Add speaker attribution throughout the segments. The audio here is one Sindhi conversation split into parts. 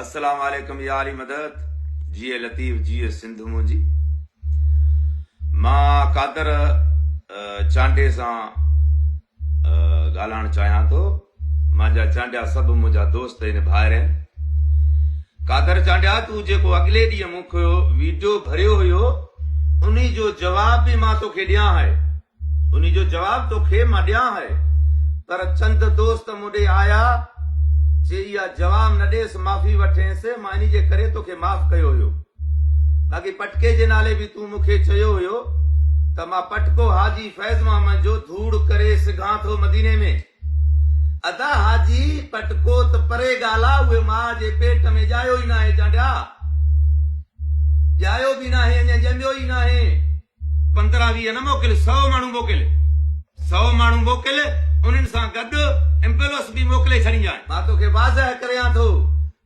Speaker 1: السلام عليڪم ياري مدد جيئي لطيف جيئي سنڌ منهنجي مان قادر چانڊي سان ڳالهائڻ چاهيان ٿو مانجا چانڊيا سڀ منهنجا دوست هن ڀائر آهن قادر چانڊيا تو جيڪو اڳلي ڏينهن مون کي ويڊيو ڀريو هيو انهي جو جواب به مان توکي ڏيان هاي انهي جو جواب تو کي مان ڏيان هاء، پر چند دوست مون ڏي آيا، جي اها جواب نه ڏيس معافي وٺينس، مان انهي جي ڪري تو کي معاف ڪيو هيو. باقي پٽڪي جي نالي به تون مون کي چيو هيو ته مان پٽڪو حاجي فيض محمد جو ڌوڙ ڪري سگهان ٿو مديني ۾. ادا حاجي پٽڪو ته پري ڳالهه آ، اهي ماء جي پيٽ ۾ ڄايو ئي ناهي چانڊيا. ڄايو به ناهي، اڃا ڄميو ئي ناهي. پندرهن ويهه نه موڪل، سؤ ماڻهو موڪل. سؤ ماڻهو موڪل، انهن سان گڏ ايمبولنس به موڪلي ڇڏينجانء. مان توکي واضح ڪريان ٿو،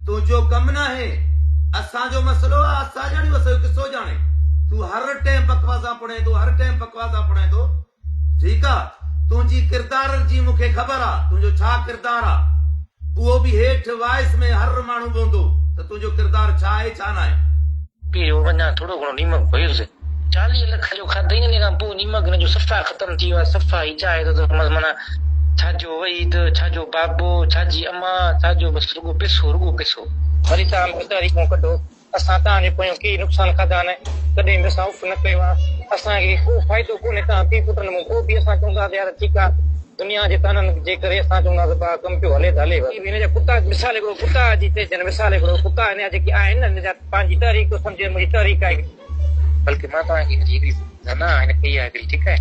Speaker 1: تنهنجو ڪم ناهي اسان جو مسئلو آ، اسان ڄاڻيون اسان جو قصو ڄاڻي. تون هر ٽيم بڪواسا پڙهين ٿو، هر ٽيم بڪواسا پڙهين ٿو. ٺيڪ آ تنهنجي ڪردارر جي مونکي خبر آ تنهنجو ڇا ڪردار آ اهو به هيٺ وائس ۾ هرر ماڻهو ٻوندو ته تنهنجو ڪردار ڇا آهي ڇا ناهي. پي يو
Speaker 2: اڃا ٿورو گهڻو نيمگ پيوس چاليهه لک جو کاڌئين انهي کان پوء نيمگ هن جو صفا ختم ٿي ويو آ صفا هي چاهي ٿو ته مس معنيٰ ڇا جو وحيد ڇا جو بابو ڇا جي امان ڇا جو بس رڳو پئسو رڳو پئسو. وري سا مرزا ريمون ڪڍو اسان توهان جي پويان ڪي نقصان کاڌا نه ڪڏهن به اسان اف نه ڪيو آ اسان کي ڪو فائدو ڪونهي توهان پي پٽن مون پو به اسان چوندا ته يار ٺيڪ آ دنيا جي طعنن جي ڪري اسان چوندا ته ڀا ڪم پيو هلي ته هليو هي به هن جا ڪتا مثال هڪڙو ڪتا جي چئجن مثال هڪڙو ڪتا هن جا جيڪي آهن نه هن جا پنهنجي تحريڪ ٿو سمجهي منهنجي تحريڪ آهي بلڪه مان توهان کي هن جي هڪڙي ڌنا هن ڪئي آ هڪڙي ٺيڪ آهي.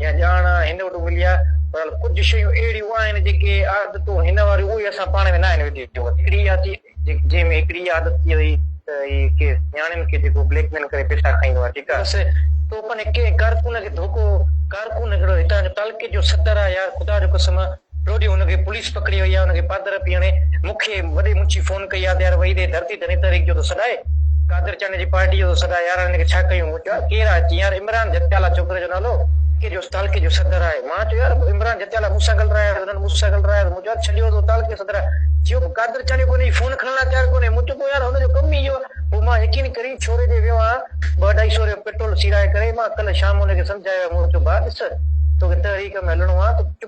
Speaker 2: يا ڄاڻ هن وٽ ملي آهي، بهرحال ڪجهه شيون اهڙيون آهن جيڪي عادتون هن واريون اهي اسان پاڻ ۾ ناهن وڌيون هڪڙي اها ٿي جنهن ۾ هڪڙي اها عادت ٿي وئي ته هي ڪيس نياڻين کي جيڪو بليڪ ميل ڪري پيسا کائيندو آهي ٺيڪ آهي بس ٽوپن ڪنهن ڪارڪن کي ڌوڪو ڪارڪن هڪڙو هتان جو تعلقي جو صدر آهي يا خدا جو قسم ٽوڙي هن کي پوليس پڪڙي وئي آهي هن کي پادر پياڻي مکي وڏي منشي فون ڪئي آهي ته يار وحيد هي ڌرتي ڌڻي تحريڪ جو ته سڏائي قادر چانڊيو جي پارٽي جو ته سڏائي يار هاڻي هن کي ڇا ڪيون مون چيو يار ڪير آهي چي يار عمران جتيالا ڇوڪري جو نالو ڪي جو تعلقي جو صدر آهي مان چيو يار عمران جتيالا مون سان ڳلرايو آهي انهن مون سان ڳلرايو آهي مون چيو يار ڇڏيو ته تعلقي صدر آهي چيو پوء قادر چانڊيو ڪو هن جي فون کڻڻ لاء تيار ڪونهي مون چيو پوء يار هن جو ڪم ئي اهو آهي پوء مان يقين ڪرين ڇوري ڏي ويو آهيان ٻه اڍائي سئو رپيا پيٽرول سيڙائي ڪري مان ڪلهه شام هن کي سمجهايو آهي مون چيو ڀاء ڏس توکي تحريڪ ۾ هلڻو آهي ته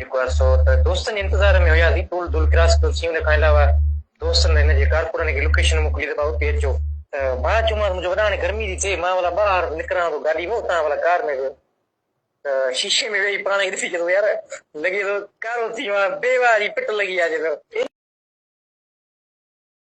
Speaker 2: هڪ عرصو ته دوستن جي انتظار ۾ هياسين ٽول دول ڪراس ڪيوسين ان کان علاوه دوستن هن جي ڪارپورن کي لوڪيشن موڪلي ته ڀا اتي اچو ته ڀا چيومانس منهنجو وڏاڻي گرمي ٿي ٿئي مان ڀلا ٻاهر ته نڪران ٿو گاڏي ۾ اتان ڀلا ڪار ۾ ويهه ته شيشي ۾ ويهي پاڻ کي ڏسي چيو ته يار لڳي ٿو ڪارو ٿي ويو آهيان بي واهه جي پٽ لڳي آهي جيڪر